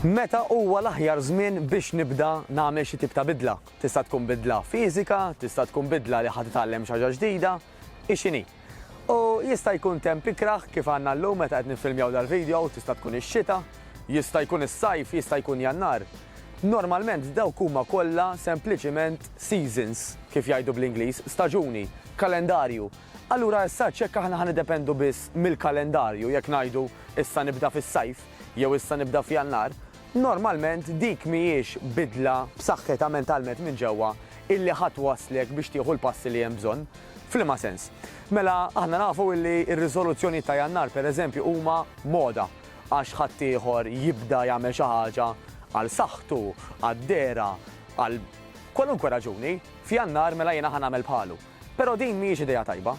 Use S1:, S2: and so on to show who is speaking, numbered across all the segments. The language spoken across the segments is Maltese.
S1: Meta huwa l-aħjar żmien biex nibda nagħmel xi tip ta' bidla? Tista' tkun bidla fiżika, tista' tkun bidla li ħa titgħallem xi ħaġa ġdida, hi x'inhi. U jista' jkun temp ikrah kif għandna llum meta qed niffilmjaw dal-video, tista' tkun ix-xita, jista' jkun is-sajf, jista' jkun Jannar. Normalment dawk huma kollha sempliċiment seasons, kif jgħidu bl-Ingliż, staġuni, kalendarju. Allura issa hekk aħna ħa niddependu biss mill-kalendarju jekk ngħidu issa nibda fis-Sajf jew issa nibda f'Jannar, normalment dik mhijiex bidla b'saħħitha mentalment minn ġewwa illi ħa twasslek biex tieħu l-passi li hemm bżonn. F'liema sens? Mela, aħna nafu illi r-riżoluzzjonijiet ta' Jannar, pereżempju, huma moda għax ħaddieħor jibda jagħmel xi ħaġa għal saħħtu, għad-dehra, għal kwalunkwe raġuni, f'Jannar mela jiena ħa nagħmel bħalu. Però din mhijiex idea tajba.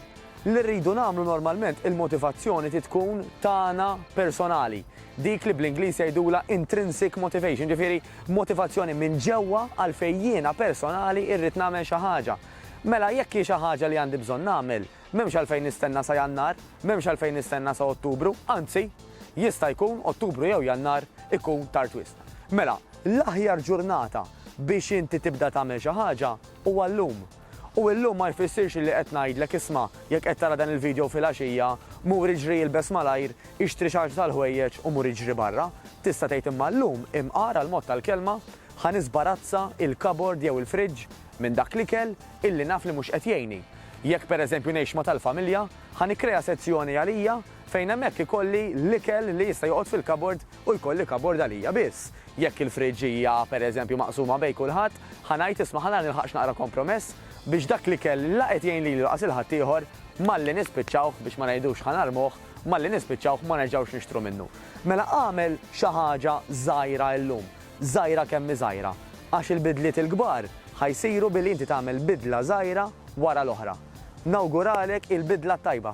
S1: Li rridu nagħmlu normalment il-motivazzjoni trid tkun tagħna personali, dik li bl-Ingliż jgħidulha intrinsic motivation, ġifieri motivazzjoni minn ġewwa għalfejn jiena personali rrid nagħmel xi ħaġa. Mela jekk hi xi ħaġa li għandi bżonn nagħmel, m'hemmx għalfejn nistenna sa Jannar, m'hemmx għalfejn nistenna sa Ottubru, anzi, jista' jkun Ottubru jew Jannar ikun tard wisq. Mela, l-aħjar ġurnata biex inti tibda tagħmel xi ħaġa huwa llum. U illum ma jfissirx illi qed ngħidlek isma' jekk qed tara dan il-video filgħaxija, mur iġri ilbes malajr, ixtri xi ħaġa tal-ħwejjeġ u mur iġri barra. Tista' tgħid imma llum, imqar għall-mod tal-kelma, ħa nisbarazza il-kabord jew il-friġġ minn dak l-ikel illi naf li mhux qed jgħinni. Jekk pereżempju ngħix ma' tal-familja, ħa nikkrea sezzjoni għalija fejn hemmhekk ikolli l-ikel li jista' joqgħod fil-kabord u jkolli kabord għalija biss. Jekk il-fridge hija, pereżempju, maqsuma bejn kulħadd, ħa ngħid isma' ħa nara nilħaqx naqra kompromess biex dak l-ikel la qed jgħin lili laqas il-ħaddieħor malli nispiċċawh, biex ma ngħidux ħa narmuh, malli nispiċċawh ma nerġgħux nixtru minnu. Mela agħmel xi ħaġa żgħira illum, żgħira kemm hi żgħira, għax il-bidliet il-kbar ħa jsiru billi inti tagħmel bidla żgħira wara l-oħra. Nawguralek il-bidla t-tajba!